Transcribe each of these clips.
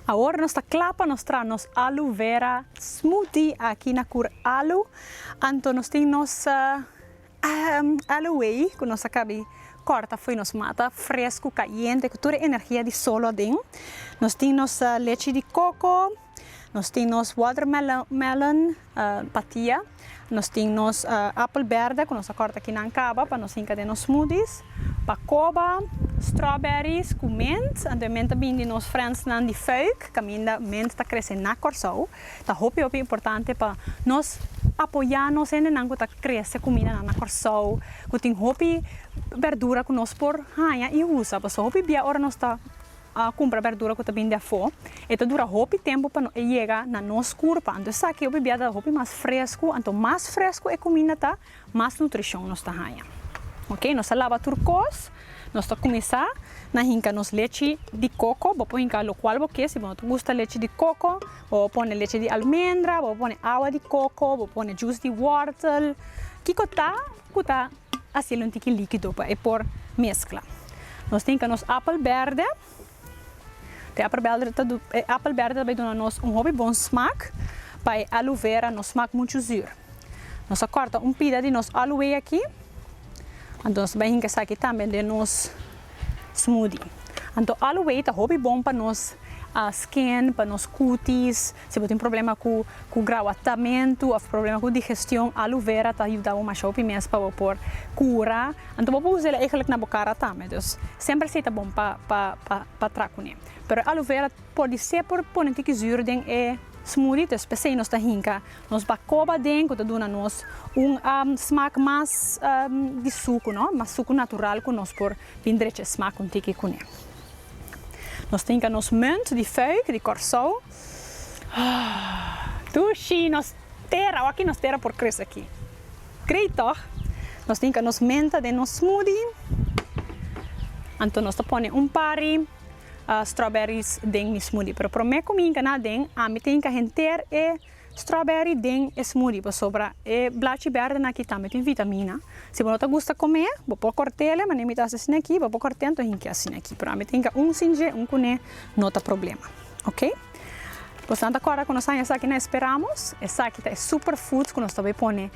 Awor nos ta kla pa nos traha nos alu vera smoothie aki na Kur Alu. Anto nos tin nos alu wei ku nos a kabi kòrta fo'i nos mata, fresku, kayente ku tur e energia di solo aden. Nos tin nos lechi di koko, nos tin nos watermelon, Patia, nos tin nos apel berde cu nos a corta kinan caba pa nos hinca den nos smoothies, bacoba, strawberries cu mint, anto e mint a bini di nos friendsnan di Fuik, caminda mint ta crece na Corsou, ta hopi hopi importante pa nos apoya nos hendenan cu ta crece cumidanan na Corsou, cu tin hopi berdura cu nos por haya y usa, pasobra hopi bia ora nos ta. kumpra berdura ku ta bini di afó, e ta dura hopi tempu pa e yega na nos kurpa. Anto esaki hopi bia ta hopi mas fresku. Anto mas fresku e kuminda ta, mas nutrishon nos ta haña. Oke, nos ta laba tur kos, nos ta kuminsá na hinka nos lechi di koko. Bo por hinka lo kual bo ke, si bo no ta gusta lechi di koko, bo por pone lechi di almendra, bo por pone awa di koko, bo por pone jus di wòrtel, kiko ta ku ta Haciel un tiki likido pa e por meskla. Nos tin ka nos apel berde. E apel berde ta e apel berde ta bai duna nos un hopi bon smak pa e aloe vera no smak muchu zuur. Nos a kòrta un pida di nos aloe aki. Anto nos ta bai hinka esaki tambe den nos. Smoothie. Anto aloe wei ta hopi bon pa nos skin, pa nos kutis, si bo tin problema ku ku grawatamentu òf problema ku digestion, aloe vera ta yuda bo masha hopi mes pa bo por kura. Anto bo por usa el eigenlik na bo kara tambe. Dus semper asei ta bon pa pa pa pa tra kuné. Pero e aloe vera por di ser por pone tiki zür den e smoothie, dus p'esei nos ta hinka Nos bacoba den cu ta duna nos un smaak mas di sucu, no? Mas sucu natural cu nos por bin drecha e smaak un tiki cu ne. Nos ta hinca nos munt di fuik di Corsou. Dushi! Nos tera, awaki nos tera por crece aki. Great toch? Nos ta hinca nos menta den nos smoothie. Anto nos ta pone un pari strawberries den mi smoothie. Pero prome cu mi hinca nan aden, ami ta hinca henter e. Strawberry den e smoothie pasobra e blachi berde naki tambe tin vitamina. Si bo no ta gusta come, bo por cortele, mane mi ta haci asina aki, bo por corte anto hinkia asina aki, pero ami ta hinka un sin dje, un cune, no ta problema. Ok. Boso ta acorda cu nos haya esaki na Esperamos? Esaki ta e superfoods cu nos ta bay pone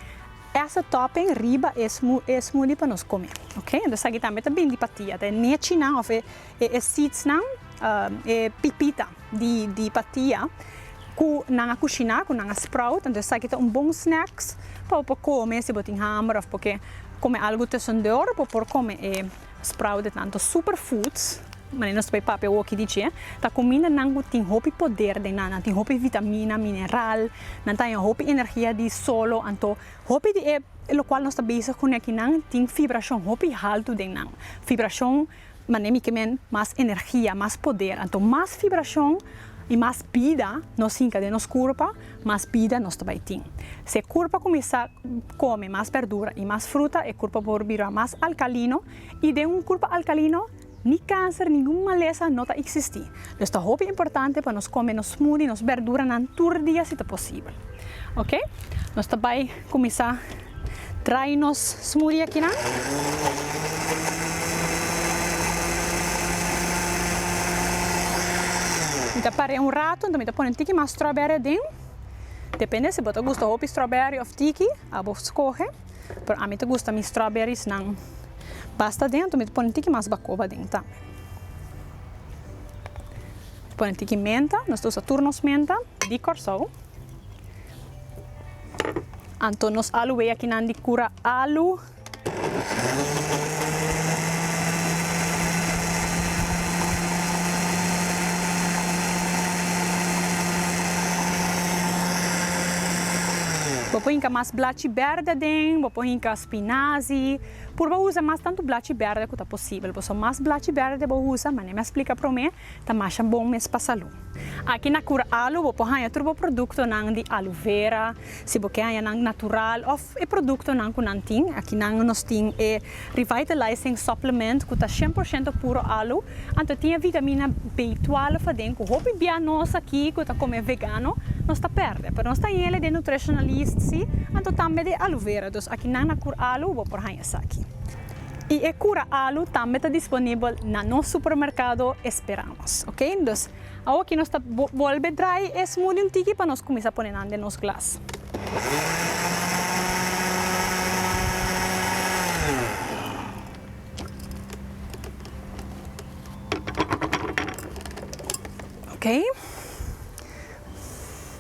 as a topping riba e smoothie pa nos come. Ok. Entonces esaki tambe ta bindi pa ti, ta e nechinan of e seedsnan, e pipita. di di patia cu nan a cushina cu nan a sprout entonces esaki ta un bon snacks pa bo por come si bo tin hamber of bo ke come algo tusundor bo por come e sprout de tanto super foods manera nos ta bay papia awor aki di dje ta comindanan cu tin hopi poder den nan nan tin hopi vitamina mineral nan ta haña hopi energia di solo anto hopi di e locual nos ta bezig cune aki nan tin fibracion hopi halto den nan fibracion. Manera mi ke men, mas energia, mas poder. Anto mas vibrashon i mas bida nos hinka den nos kurpa, mas bida nos ta bai tin. Si e kurpa kuminsá kome mas bèrdura i mas fruta, e kurpa por bira mas alkalino, i den un kurpa alkalino, ni kanser, ningun malesa no ta eksistí. Dus ta hopi importante pa nos kome nos smudi, nos bèrduranan tur dia si ta posibel. Oke, nos ta bai kuminsá. Traai nos smoothie akinan. Mi ta par'é un rato, enton mi ta pone un tiki mas strawberry aden. Depende si bo ta gusta hopi strawberry of tiki, a bo skohe. Pero ami ta gusta mi strawberries nan basta aden, enton mi ta pone un tiki mas bakoba aden tambe. Mi ta pone un tiki menta, nos ta usa tur nos menta di Kòrsou. Anto nos alu wei aki nan di cura alu. Bo por hinca mas blachi berde aden, bo por hinca spinazi. Purba usa mas tantu blachi berde cu ta posibel. Boso mas blachi berde bo usa, manera mi a splica prome. ta masha bon mes pa salú. Aki na Curalu bo por haña tur bo produktonan di alu vera, si bo ke haña nan natural òf e produktonan ku nan tin. Aki nan nos tin e Revitalising Supplement ku ta shen por shento puro alu, anto e tin e vitamina B-12 aden ku hopi bia nos aki ku ta kome vegano nos ta pèrdè. Pero nos ta yele den Nutritionalist, si, anto tambe den alu vera. Dus aki nan na Curalu bo por haña esaki. y e cura alu tambe ta disponibel na nos supermercado Esperamos ok dus awo aki nos ta bolbe drai e smoothie un tiki pa nos cuminsa pone nan den nos glas. Ok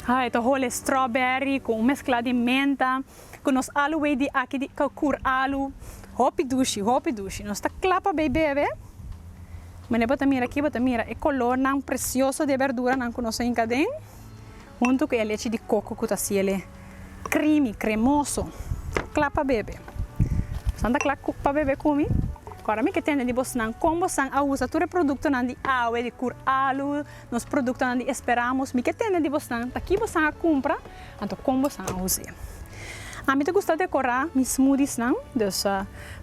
ay ta hole strawberry cu un mescla di menta. cu nos alu wey di aki di cacur alu hopi dushi hopi dushi nos ta cla pa bay bebe mane bo ta mira aki bo ta mira e color nan precioso di e berdura nan cu nos a hinca aden hunto cu e lechi di coco cu ta haci ele creamy cremoso cla pa bebe nos nan ta cla pa bebe cumi cu aromi ke tende di bos nan con bos nan a usa tur e producto nan di awe di cur alu. Nos produktonan di Esperamos mi ke tende di bosnan ta ki bosnan a kumpra, anto kon bosnan a us'e. Ami ta gusta dekorá mi smoothiesnan, dus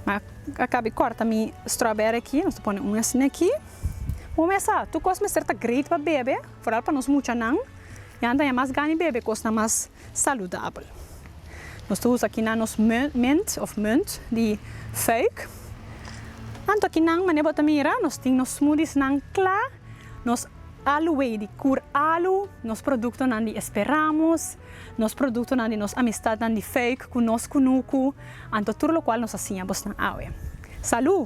mi a kabi kòrta mi strawberry aki, nos ta pone un asina aki. Bo mester sa, tur kos mester ta great pa bebe, foral pa nos muchanan, e nan ta haña mas gana di bebe kosnan mas saludabel. Nos ta usa kinan nos munt òf munt di fuik. Anto kinan, manera bo ta mira, nos tin nos smoothiesnan kla. Nos alway di Kur Alu, nos produktonan di Esperamos, nos produktonan di nos amistatnan di Fuik ku nos kunuku, anto tur lokual nos a siña bosnan awe. Salú!